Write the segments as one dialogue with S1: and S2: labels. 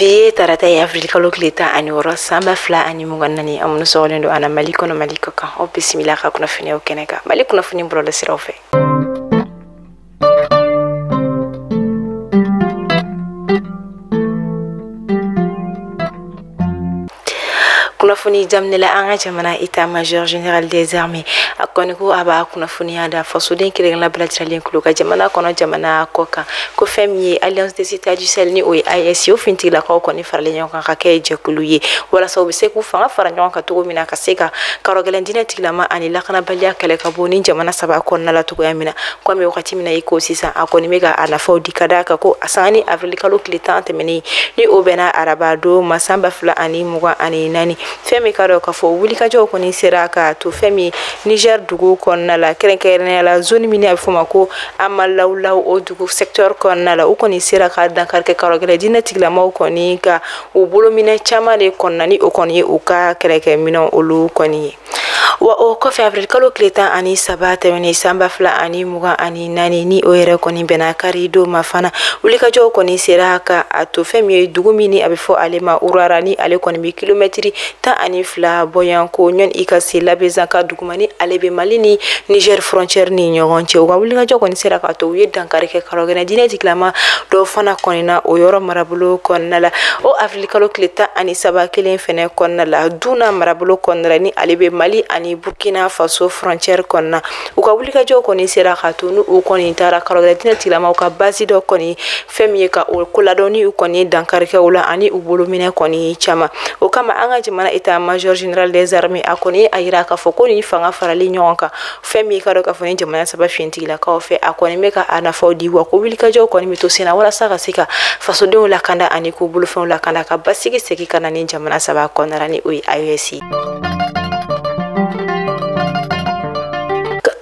S1: bi ye tarata ye avrili kalo tile tan ani wɔɔrɔ san ba fila ani mugan ni naani aw minnu sɔgɔlen don an na mali kɔnɔ mali kɔ kan aw bisimila ka kunnafoniyaw kɛnɛ kan mali kunnafoni bɔlɔlɔsiraw fɛ kunnafoni daminɛ la an ka jamana état major général des armées a kɔni ko a b'a kunnafoniya da fasoden kelenkelenna bɛɛ lajɛlen tulo kan jamana kɔnɔ jamana kɔ kan ko fɛn min ye alliance des états du sahel ni o ye aes ye o finitigilakaw kɔni faralen ɲɔgɔn kan ka kɛ jɛkulu ye walasa u bɛ se k'u fanga fara ɲɔgɔn kan cogo min na ka se ka karɔgɛlɛn diinɛ tigilama ani lakanabaliya kɛlɛ ka bɔ nin jamana saba kɔnɔna la cogoya min na komi wagati min na i ko sisan a kɔni bɛ ka a nafaw di ka da kan ko a sanga ni avrili kalo tile tan tɛmɛnen ni o bɛnna araba don ma san ba fila ani mugan ani naani fɛn min ka dɔn k'a fɔ wulikajɔw kɔni sera k'a to fɛn min niger dugu kɔnɔna la kɛrɛnkɛrɛnnenya la zone min ni a bɛ fɔ a ma ko amalawlaw o dugu secteur kɔnɔna la u kɔni sera ka dankari kɛ karɔgɛlɛn diinɛ tigilamaw kɔni ka u bolominɛn caman de kɔnɔna ni o kɔni ye u ka kɛlɛkɛminɛnw olu kɔni ye wa o kɔfɛ avril kalo tile tan ani saba tɛmɛnen sanba fila ani mugan ani naani ni o yɛrɛ kɔni bɛnna kari don ma fana wulikajɔw kɔni sera ka a to fɛn min ye dugu min ni a bɛ fɔ ale ma urara ni ale kɔni bɛ kilomɛtiri tan ani fila bɔyan ko ɲɔn i ka se labezanga dugu ma ni ale bɛ mali ni niger frontiɛri ni ɲɔgɔn cɛ u ka wulikajɔ kɔni sera k'a to u ye dankari kɛ karɔgɛlɛn diinɛ tigilama dɔw fana kɔni na o yɔrɔ marabolo kɔnɔna la o kalo tile tan ani saba kelen fɛnɛ kɔnɔna la duna marabolo kɔnɔna la ni ale bɛ mali ani burkina faso frontiɛre kɔnɔna u ka wulikajɔw kɔni sera k'a to ni u kɔni taara karɔgɛlɛn diinɛ tigilamaw ka basi dɔ kɔni fɛn min ye ka o koladɔn ni u kɔni dankari kɛ u la ani u bolominɛn kɔni caman o kama an ka jamana état major général des armées a kɔni y'a yira k'a fɔ ko nin fanga farali ɲɔgɔn kan fɛn min ka dɔn k'a fɔ nin jamana saba finitigilakaw fɛ a kɔni bɛ ka a nafaw di wa ko wulikajɔw kɔni bɛ to sen na walasa ka se ka fasodenw lakanda ani k'u bolofɛnw lakanda ka basigi segin ka na nin jamana saba kɔnɔna ni o ye aes ye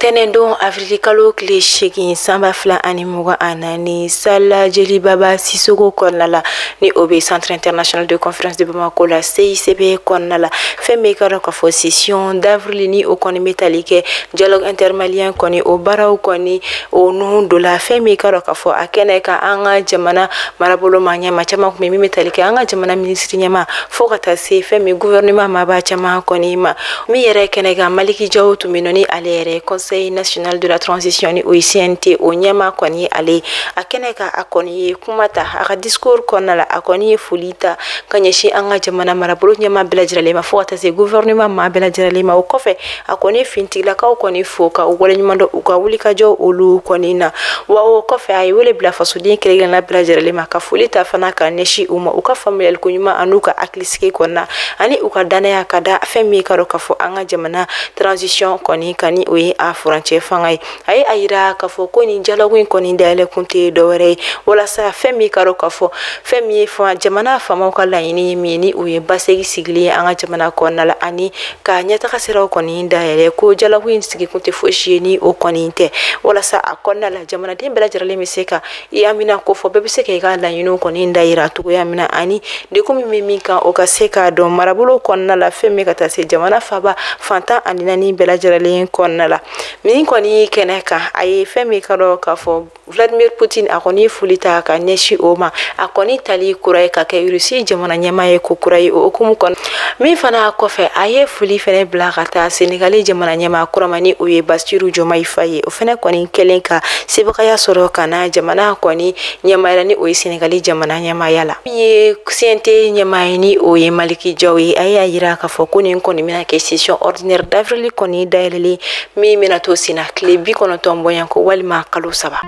S1: ntɛnɛndon avrili kalo tile seegin sanba fila ani mugan ani naani salle jelibaba sisɔkɔ kɔnɔna la ni o bɛ centre international de conférence de bamako la cicb kɔnɔna la fɛn min ka dɔn k'a fɔ session d'avril ni o kɔni bɛ tali kɛ dialogue intermalien kɔni o baaraw kɔni o nun don la fɛn min ka dɔn k'a fɔ a kɛnɛ kan an ka jamana marabolo maa ɲɛmaa caman tun bɛ min bɛ tali kɛ an ka jamana minisiri ɲɛmaa fo ka taa se fɛn min gouvernement maaba caman kɔni ma min yɛrɛ kɛnɛ kan maliki jaw tun bɛ nɔni ale yɛrɛ conseil national de la transition ni o ye cnt o ɲɛmaa kɔni ye ale ye a kɛnɛ kan a kɔni ye kuma ta a ka discours kɔnɔna la a kɔni ye foli ta ka ɲɛsin an ka jamana marabolo ɲɛmaa bɛɛ lajɛlen ma fo ka taa se gouvernement maa bɛɛ lajɛlen ma o kɔfɛ a kɔni ye finitigilakaw kɔni fo ka u waleɲuman dɔn u ka wulikajɔ olu kɔni na wa o kɔfɛ a ye wele bila fasoden kelen-kelenna bɛɛ lajɛlen ma ka foli ta fana ka ɲɛsin u ma u ka faamuyali ko ɲuman an'u ka hakili sigi kɔnɔna ani u ka dannaya ka da fɛn min ka dɔn k'a fɔ an ka jamana transition kɔni kan ni o ye a furancɛ fanga ye a ye a yira k'a fɔ ko nin dialogue in kɔni dayɛlɛ kun tɛ dɔwɛrɛ ye walasa fɛn min ka dɔn k'a fɔ fɛn min ye fanga jamana faamaw ka laɲini ye min ni o ye basegi sigilen ye an ka jamana kɔnɔna la ani ka ɲɛtaga siraw kɔni dayɛlɛ ko dialogue in sigi kun tɛ fosi ye ni o kɔni tɛ walasa a kɔnɔna la jamanaden bɛɛ lajɛlen bɛ se ka i haminako fɔ bɛɛ bɛ se ka i ka laɲiniw kɔni dayira cogoya min na ani degun min bɛ min kan o ka se ka dɔn marabolo kɔnɔna la fɛn min ka taa se jamana faba fan tan ani naani bɛɛ lajɛlen kɔnɔna la min kɔni kɛnɛ kan a ye fɛn min ka dɔn k'a fɔ vladimir putin a kɔni ye foli ta ka ɲɛsin o ma a kɔni tali kura ye ka kɛ russie jamana ɲɛmaa ye ko kura ye o hukumu kɔnɔ min fana kɔfɛ a ye foli fana bila ka taa senegali jamana ɲɛmaa kura ma ni o ye basiru jomay fay ye o fana kɔni kɛlen ka sebagaya sɔrɔ ka na jamana kɔni ɲɛmaaya la ni o ye senegali jamana ɲɛmaaya la min ye cnt ɲɛmaa ye ni o ye maliki jaw ye a y'a yira k'a fɔ ko nin kɔni bɛna kɛ session ordinaire d'avril kɔni dayɛlɛlen min bɛna to senna tile bi kɔnɔntɔn bɔɲanko walima kalo saba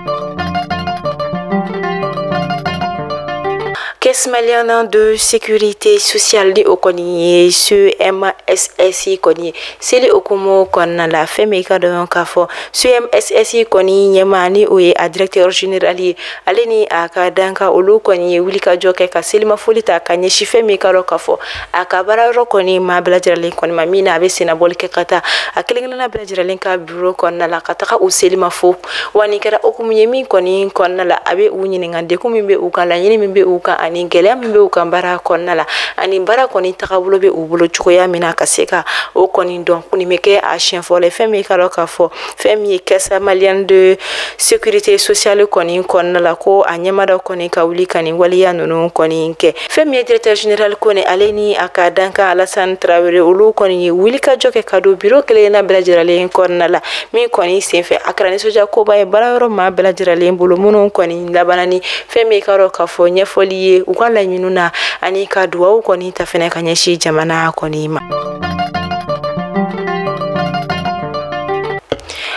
S1: caisse malienne de sécurité sociale ni o kɔni ye CMSS kɔni ye seli hukumu kɔnɔna la fɛn min ka dɔn k'a fɔ CMSS kɔni ɲɛmaa ni o ye a directeur général ye ale ni a ka dankan olu kɔni ye wulikajɔ kɛ ka selimafoli ta ka ɲɛsin fɛn min ka dɔn k'a fɔ a ka baara yɔrɔ kɔni maa bɛɛ lajɛlen kɔni ma min na a bɛ sennabɔli kɛ ka taa a kelen-kelenna bɛɛ lajɛlen ka biro kɔnɔna la ka taga u selima fo wa nin kɛra hukumu ye min kɔni kɔnɔna la a bɛ u ɲininka degun min bɛ u kan laɲini min bɛ u kan ani gɛlɛya min bɛ u kan baara kɔnɔna la ani baara kɔni tagabolo bɛ u bolo cogoya min na ka se ka o kɔni dɔn nin bɛ kɛ a siɲɛ fɔlɔ ye fɛn min ka dɔn k'a fɔ fɛn min ye caisse malienne de sécurité sociale kɔni kɔnɔna la ko a ɲɛmaa dɔ kɔni ka wuli ka nin waleya ninnu kɔni kɛ fɛn min ye directeur général kɔni ale ni a ka dankan alasan tarawele olu kɔni ye wulikajɔ kɛ ka don biro kelenna bɛɛ lajɛrɛlen kɔnɔna la min kɔni senfɛ a kɛra nisɔndiya koba ye baara yɔrɔ maa bɛɛ lajɛrɛlen bolo minnu kɔni labanna ni fɛn min ka dɔn k'a fɔ ɲɛfɔli ye u ka laɲiniw na ani ka duwawu kɔni ta fɛnɛ ka ɲɛsin jamana kɔni ma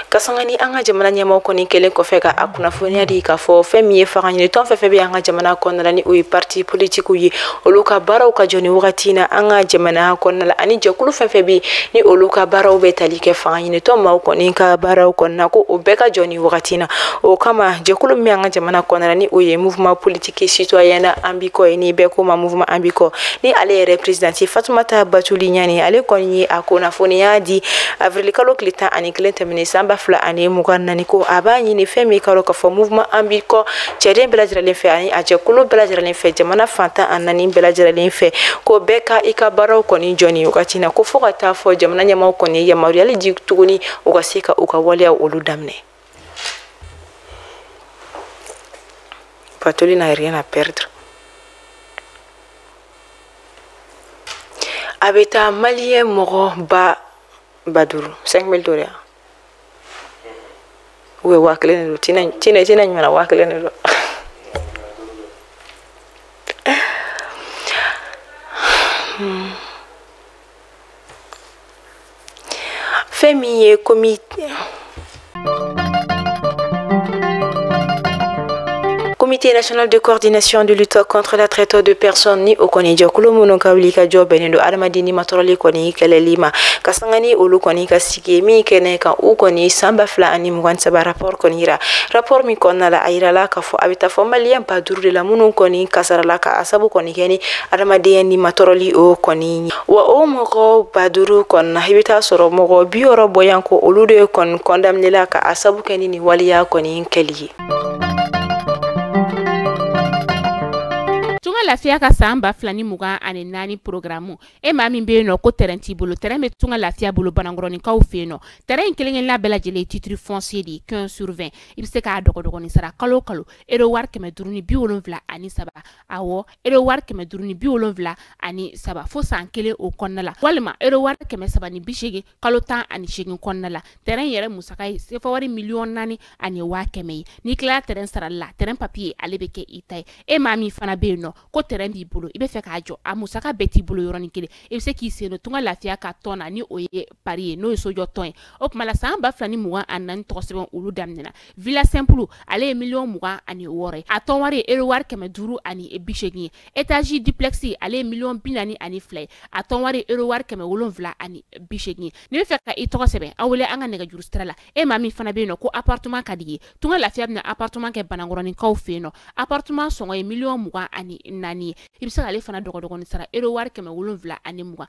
S1: ka sanga ni an ka jamana ɲɛmɔgɔ kɔni kɛlen kɔfɛ ka a kunnafoniya di k'a fɔ fɛn min ye fanga ɲini tɔn fɛn fɛn bɛ an ka jamana kɔnɔna la ni o ye parti politikiw ye olu ka baaraw ka jɔ nin wagati na an ka jamana kɔnɔna la ani jɛkulu fɛn fɛn bɛ ni olu ka baaraw bɛ tali kɛ fanga ɲini tɔn maaw kɔni ka baaraw kɔnɔna ko o bɛɛ ka jɔ nin wagati na o kama jɛkulu min bɛ an ka jamana kɔnɔna la ni o ye mouvement politique et citoyen an bi kɔ ye ni bɛɛ ko ma mouvement an bi kɔ ni ale yɛrɛ présidente fatumata batuli ɲane ale kɔni ye a kunnafoniya di avril kalo tile tan ani kelen tɛmɛnen san ba fila ani mugan naani ko a b'a ɲini fɛn min ka dɔn k'a fɔ mouvement an bi kɔ cɛden bɛɛ lajɛrɛlen fɛ ani a jɛkulu bɛɛ lajɛrɛlen fɛ jamana fan tan ni naani bɛɛ lajɛrɛlen fɛ ko bɛɛ ka i ka baaraw kɔni jɔ nin wagati na ko fo ka taa fo jamana ɲɛmaaw kɔni ye yamaruyali di tuguni u ka se ka u ka waleyaw olu daminɛ Batuli n'a rien à perdre. A bɛ taa maliyɛn mɔgɔ ba ba duuru cinq mille duuru yan u bɛ waa kelen de don tina ɲuman waa kelen de don fɛn min ye komi comité national de coordination de lutte contre la traite des personnes ni o kɔni jɛkulu minnu ka wuli ka jɔ bɛnnen don adamaden nimatɔrɔli kɔni kɛlɛli ma ka sanga ni olu kɔni ka sigi min kɛnɛ kan u kɔni san ba fila ani mugan saba rapport kɔni yira rapport min kɔnɔna la a yirala k'a fɔ a bɛ taa fo maliyɛn ba duuru de la minnu kɔni kasarala ka a sabu kɔni kɛ ni adamadenya nimatɔrɔli o kɔni ye wa o mɔgɔ ba duuru kɔnɔna i bɛ t'a sɔrɔ mɔgɔ bi wɔɔrɔ bɔɲɔgɔnko olu de kɔni kɔndaminela ka a sabu kɛ ni nin waleya kɔni kɛli ye
S2: tunga lafiya ka san ba fila ni mugan ani naani porogaramu e maa min bɛ yen nɔ ko tɛrɛn t'i bolo tɛrɛn bɛ tunga lafiya bolo banankɔrɔninkaw fɛ yen nɔ tɛrɛn in kelenkelenna bɛɛ lajɛlen titiri fɔnsiye de ye quinze sur vingt i bɛ se k'a dɔgɔdɔgɔnin sara kalo kalo ero wari kɛmɛ duuru ni bi wolonfila ani saba awɔ ero wari kɛmɛ duuru ni bi wolonfila ani saba fo san kelen o kɔnɔna la walima ero wari kɛmɛ saba ni bi seegin kalo tan ani seegin kɔnɔna la tɛrɛn yɛrɛ musaka ye sefa wari miliyɔn naani ani waa kɛmɛ ye n'i tilala tɛrɛn sarali la tɛrɛn papiye ale bɛ kɛ i ta ye e maa min fana bɛ yen nɔ ko tɛrɛn b'i bolo i bɛ fɛ k'a jɔ a musaka bɛɛ t'i bolo yɔrɔnin kelen i bɛ se k'i sen don tunga lafiya ka tɔn na ni o ye pari ye n'o ye sojɔ tɔn ye o tuma la san ba fila ni mugan ani naani tɔgɔ sɛbɛn olu daminɛna villa simple ale ye miliyɔn mugan ani wɔɔrɔ ye a tɔn wari ye euro wari kɛmɛ duuru ani bi seegin ye etazi duplex ale ye miliyɔn bi naani ani fila ye a tɔn wari ye euro wari kɛmɛ wolonwula ani bi seegin ye n'i bɛ fɛ ka i tɔgɔ sɛbɛn a wele an ka nɛgɛjuru sira la e maa min fana bɛ yen nɔ ko appartement ka di i ye tunga lafiya bɛna appartement kɛ banankɔrɔninkaw fɛ yen nɔ appartement sɔngɔ ye miliyɔn mugan ani naani ye i bɛ se k'ale fana dɔgɔdɔgɔnin sara euro wari kɛmɛ wolonwula ani mugan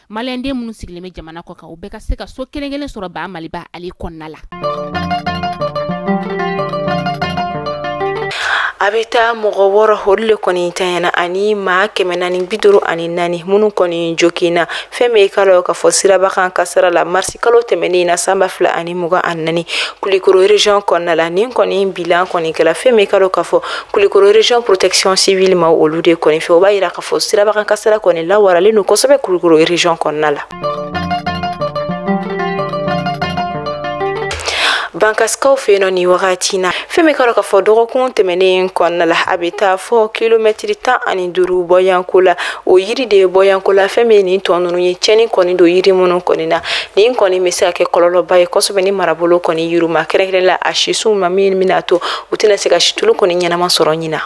S2: maliyɛnden minnu sigilen bɛ jamana kɔ kan u bɛɛ ka se ka so kelen kelen sɔrɔ baa maliba ale kɔnɔna
S1: la a bɛ taa mɔgɔ wɔɔrɔ olu le kɔni tanyana ani maa kɛmɛ naani bi duuru ani naani minnu kɔni joginna fɛn min ka dɔn k'a fɔ siraba kan kasara la marisi kalo tɛmɛnen na sanba fila ani mugan ani naani kulikoro région kɔnɔna la nin kɔni bilan kɔni kɛla fɛn min ka dɔn k'a fɔ kulikoro région protection civile ma olu de kɔni fɛ o b'a yira k'a fɔ sirabakan kasara kɔni lawaralen don kosɛbɛ kulikoro région kɔnɔna la bankasikaw fɛ nɔ nin wagati na fɛn min ka dɔn k'a fɔ dɔgɔkun tɛmɛnen kɔnɔna la a bɛ taa fɔ kilomɛtiri tan ani duuru bɔyanko la o yiri de ye bɔyanko la fɛn min ye nin tɔn ninnu ye cɛni kɔni don yiri minnu kɔni na nin kɔni bɛ se ka kɛ kɔlɔlɔba ye kosɛbɛ nin marabolo kɔni yiriw ma kɛrɛnkɛrɛn la a sisiw ma min bɛna to u tɛna se ka situlu kɔni ɲɛnama sɔrɔ ɲinan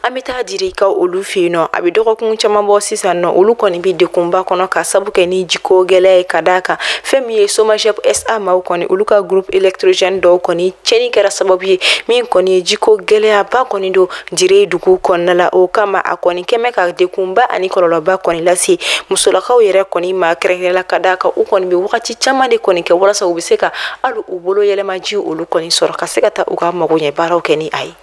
S1: an be taa direka olu fe nɔ a be dɔgɔkun caaman bɔ sisan nɔ olu kɔni be dekunba kɔnɔ ka sabu kɛ ni jiko gwɛlɛya ye ka da kan fɛn min ye somagep sa maw kɔni olu ka groupe électrogène dɔw kɔni cɛni kɛra sababu ye min kɔni ye jiko gwɛlɛyaba kɔni don dire dugu kɔnɔna la o kama a kɔni kɛmɛ ka dekunba ani kɔlɔlɔba kɔni lase musolakaw yɛrɛ kɔni ma kɛrɛnkɛrɛn la ka da kan u kɔni be wagati caaman de kɔni kɛ walasa u be se ka hali u bolo yɛlɛmaji olu kɔni sɔrɔ ka se ka taa u ka magoɲɛ baaraw kɛ ni a ye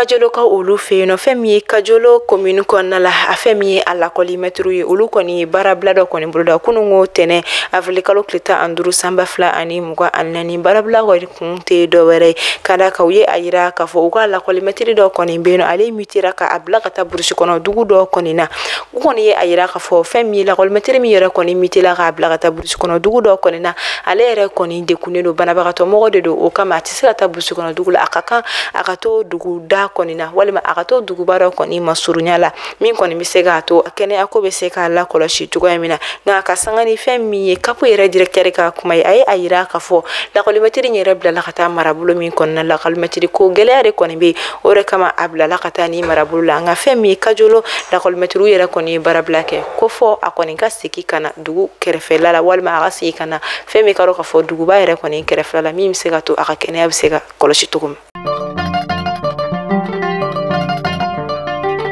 S1: kajolokaw olu fɛ nɔ fɛn min ye kajolo commune kɔnɔna la a fɛn min ye a lakɔlimɛtiriw ye olu kɔni ye baarabila dɔ kɔni boloda kununko tɛnɛn avril kalo tile tan ani duuru sanba fila ani mugan ani naani baarabila kɔni kun tɛ dɔ wɛrɛ ye ka da kan u ye a yira k'a fɔ u ka lakɔlimɛtiri dɔ kɔni bɛ yen nɔ ale mutera ka a bila ka taa burusi kɔnɔ dugu dɔ kɔni na u kɔni ye a yira k'a fɔ fɛn min ye lakɔlimɛtiri min yɛrɛ kɔni mutera k'a bila ka taa burusi kɔnɔ dugu dɔ kɔni na ale yɛrɛ kɔni dekunnen don banabagatɔ mɔgɔ de don o kama a tɛ se ka taa burusi kɔnɔ dugu la a ka kan a ka to duguda kɔni na walima a ka to duguba dɔ kɔni masurunya la min kɔni bɛ se k'a to kɛnɛya ko bɛ se ka lakɔlɔsi cogoya min na nka a ka sanga ni fɛn min ye kapo yɛrɛ directeur ka kuma ye a ye a yira k'a fɔ lakɔlimɛtiri in yɛrɛ bilala ka taa marabolo min kɔnɔna la lakɔlimɛtiri ko gɛlɛya de kɔni bɛ yen o de kama a bilala ka taa nin marabolo la nka fɛn min ye kajolo lakɔlimɛtiriw yɛrɛ kɔni ye baarabila kɛ ko fɔ a kɔni ka segin ka na dugu kɛrɛfɛla la walima a ka segin ka na fɛn min ka dɔn k'a fɔ duguba yɛrɛ kɔni kɛrɛfɛla la min bɛ se ka to a ka kɛnɛya bɛ se ka kɔlɔsi cogo min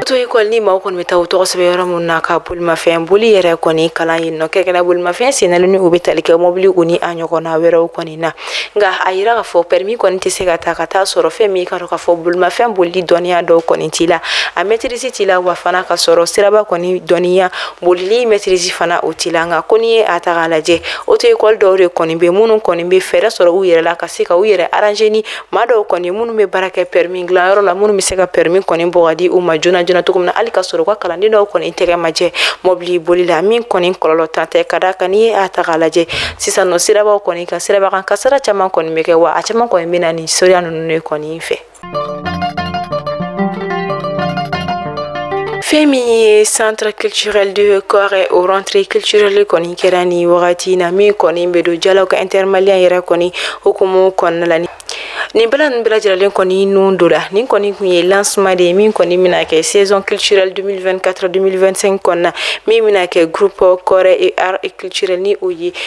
S1: to école ni maaw kɔni bɛ taa u tɔgɔ sɛbɛn yɔrɔ minnu na ka bolimafɛn boli yɛrɛ kɔni kalan yen nɔ kɛrɛnkɛrɛn bolimafɛn sennalen ni u bɛ tali kɛ mɔbili u ni a ɲɔgɔnna wɛrɛw kɔni na nka a yira k'a fɔ pɛrimi kɔni tɛ se ka ta ka t'a sɔrɔ fɛn min ka dɔn k'a fɔ bolimafɛn bolili dɔnniya dɔw kɔni t'i la a mɛtirisi t'i la wa fana ka sɔrɔ siraba kɔni dɔnniya bolili mɛtirisi fana o t'i la nka ko n'i ye a ta k'a lajɛ oto ekɔli dɔw de kɔni bɛ minnu kɔni bɛ fɛɛrɛ sɔrɔ u yɛrɛ la ka se ka u yɛrɛ aranze ni maa dɔw kɔni minnu bɛ baara kɛ pɛrimi dilanyɔrɔ la minnu bɛ se ka pɛrimi kɔni bɔ ka di u ma joona joona cogo min na hali ka sɔrɔ u ka kalanden dɔw kɔni tɛgɛ ma jɛ mɔbili boli la min kɔni kɔlɔlɔtan tɛ ka d'a kan n'i ye a ta k'a lajɛ sisan nɔ sirabaw kɔni kan sirabakan kasaara caman kɔni bɛ kɛ wa a caman kɔni bɛ na nin soya ninnu de kɔni fɛ fɛn min ye centre culturel de kôrè o rentrée culturelle kɔni kɛra ni wagati na min kɔni bɛ don dialogue intermalien yɛrɛ kɔni hukumu kɔnɔna la nin bɛla ninnu bɛɛ lajɛlen kɔni nun don la nin kɔni tun ye lancement de ye min kɔni bɛna kɛ saison culturelle 2024-2025 kɔnɔna min bɛna kɛ groupe kôrè art et culturel ni o ye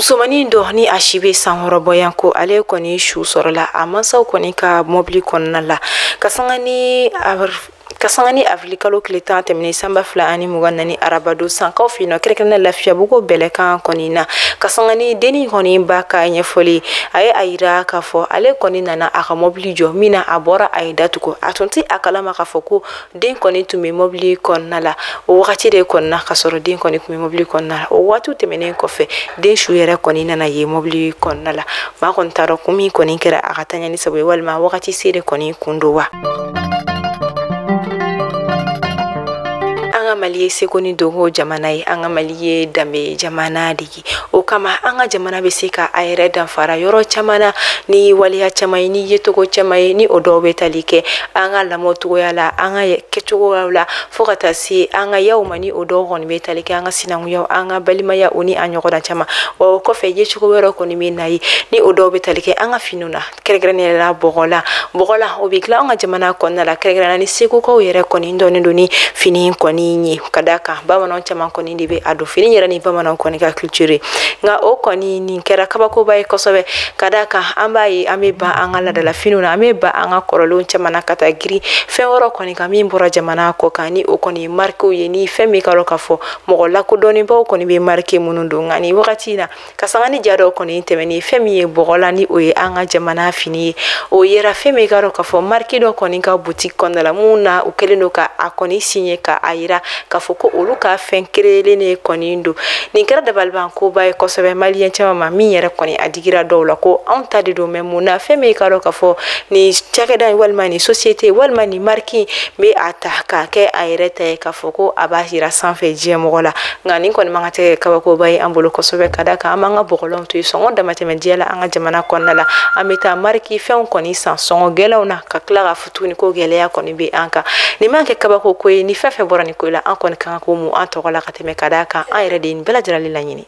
S1: musomannin dɔ ni a si bɛ san wɔɔrɔ bɔ yan ko ale kɔni su sɔrɔla a mansaw kɔni ka mɔbili kɔnɔna la ka sanga ni awirilikalo tile tan tɛmɛnen san ba fila ani mugan naani arabadon sankaw fɛ yen nɔ kɛrɛnkɛrɛnna lafiyabugu bɛlɛkan kɔni na ka sanga ni denni kɔni ba ka ɲɛfɔli a ye a yira k'a fɔ ale kɔni nana a ka mɔbili jɔ min na a bɔra a ye da tugu a tun tɛ a kalama k'a fɔ ko den kɔni tun bɛ mɔbili kɔnɔna la o wagati de kɔnɔna ka sɔrɔ den kɔni tun bɛ mɔbili kɔnɔna la o waatiw tɛmɛnen kɔfɛ den su yɛrɛ kɔni nana ye mɔbili kɔnɔna la maa kɔni t'a dɔn kun min kɔni kɛra a ka taɲa nin sabu ye walima wagati se de kɔni tun don wa an ka mali ye seko ni dɔnko jamana ye an ka mali ye danbe jamana de ye o kama an ka jamana bɛ se ka a yɛrɛ danfara yɔrɔ caman na ni waleya caman ye ni yecogo caman ye ni o dɔw bɛ tali kɛ an ka lamɔ cogoya la an ka kɛcogoyaw la fo ka taa se an ka yaw ma ni o dɔw kɔni bɛ tali kɛ an ka sinankunya an ka balimaya o ni a ɲɔgɔnna caman wa o kɔfɛ yecogo wɛrɛ kɔni bɛ na ye ni o dɔw bɛ tali kɛ an ka finiw na kɛrɛnkɛrɛnnenya la bɔgɔlan bɔgɔlan o bɛ dilan an ka jamana kɔnɔna la kɛrɛnkɛrɛnnenya ni segukaw yɛrɛ kɔni dɔnnen don nin fini kɔni ye ka d'a kan bamananw caman kɔni de bɛ a don fini yɛrɛ ni bamananw kɔni ka culture ye nka o kɔni nin kɛra kabakoba ye kosɛbɛ ka d'a kan an b'a ye an bɛ ban an ka laadala finiw na an bɛ ban an ka kɔrɔlenw caman na ka taa girin fɛn wɛrɛw kɔni kan min bɔra jamana kɔ kan ni o kɔni ye marikew ye ni fɛn min ka dɔn k'a fɔ mɔgɔ lakodɔnnenbaw kɔni bɛ marike minnu don nka nin wagati in na ka sanga ni ja dɔ kɔni tɛmɛnen fɛn min ye bɔgɔlan ni o ye an ka jamana fini ye o yera fɛn min ka dɔn k'a fɔ mariki dɔ kɔni ka butiki kɔnɔna la mun na u kɛlen don ka a kɔni siɲe ka a yira k'a fɔ ko olu ka fɛn kereyelen ne kɔni don nin kɛra dabalibankoba ye kosɛbɛ maliyɛn caman ma min yɛrɛ kɔni a digira dɔw la ko anw ta de don mɛ mun na fɛn min ka dɔn k'a fɔ nin cakɛda walima nin sosiyete walima nin mariki bɛ a ta k'a kɛ a yɛrɛ ta ye k'a fɔ ko a b'a yira sanfɛ diɲɛmɔgɔw la nka nin kɔni man ka tɛ kabakoba ye an bolo kosɛbɛ ka da kan an b'an ka bɔgɔlanw to yen sɔngɔ damatɛmɛ diya la an ka jamana kɔnɔna la an bɛ taa mariki fɛnw kɔni san sɔngɔ gɛlɛnw na ka tila k'a fɔ tuguni ko gɛlɛya kɔni bɛ an kan nin man kɛ kabako ko ye ni fɛn fɛn bɔra nin ko la an kɔni kan ka ko mun an tɔgɔ la ka tɛmɛ ka da kan an yɛrɛ de ye nin bɛɛ lajɛlen laɲini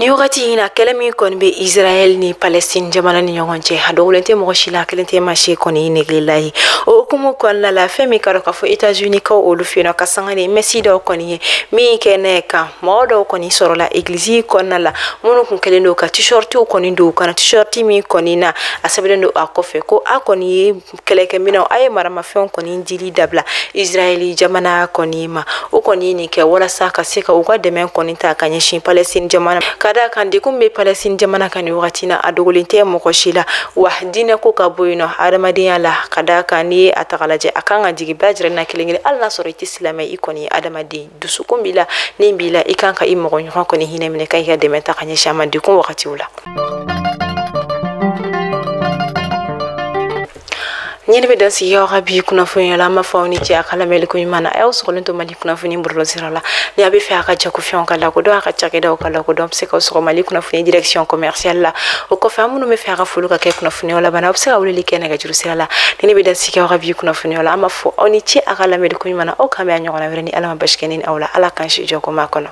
S1: ni wagati in na kɛlɛ min kɔni bɛ israɛl ni palestine jamana ni ɲɔgɔn cɛ a dogolen tɛ mɔgɔ si la kelen tɛ maa si kɔni negela ye o hukumu kɔnɔna la fɛn min ka dɔn k'a fɔ etazuni kaw olu fɛ yen nɔ ka sanga ni mɛsi dɔ kɔni ye min kɛnɛ kan mɔgɔ dɔw kɔni sɔrɔla egilizi kɔnɔna la minnu kun kɛlen don ka tishɔritiw kɔni don u kan na tishɔriti min kɔni na a sɛbɛnlen don a kɔfɛ ko a kɔni ye kɛlɛkɛminɛnw a ye maramafɛnw kɔni dili dabila israɛli jamana kɔni ma o kɔni ye nin kɛ walasa ka se ka u ka dɛmɛ kɔni ta ka ɲɛsin palɛsitini jamana ka da kan degun bɛ palɛsitini jamana kan ni wagati na a dogolen tɛ mɔgɔ si la wa diinɛ ko ka bɔ yen nɔ adamadenya la ka da kan n'i ye a ta k'a lajɛ a kan ka jigi bɛɛ lajɛlen na kelen kelen hali n'a sɔrɔ i tɛ silamɛ i kɔni ye adamaden dusukun b'i la ni b'i la i kan ka i mɔgɔ ɲɔgɔn kɔni hinɛ minɛ ka i ka dɛmɛ ta ka ɲɛsin a ma degun wagatiw la nin de bɛ dan sigi aw ka bi kunnafoniya la an b'a fɔ aw ni ce a ka lamɛnli ko ɲuman na a y'aw sɔgɔlen to mali kunnafoni bɔlɔlɔ sira la ni a bɛ fɛ a ka jagofɛnw ka lakodɔn a ka cakɛdaw ka lakodɔn a bɛ se ka sɔgɔ mali kunnafoni direction commerciale la o kɔfɛ aw minnu bɛ fɛ a ka foli ka kɛ kunnafoniyaw laban na aw bɛ se ka weleli kɛ nɛgɛjuru sira la nin de bɛ dan sigi aw ka bi kunnafoniyaw la an b'a fɔ aw ni ce a ka lamɛnli ko ɲuman na aw k'an bɛn a ɲɔgɔnna wɛrɛ ni ala ma basi kɛ ne ni aw la ala k'an si jɔ ko ma kɔnɔ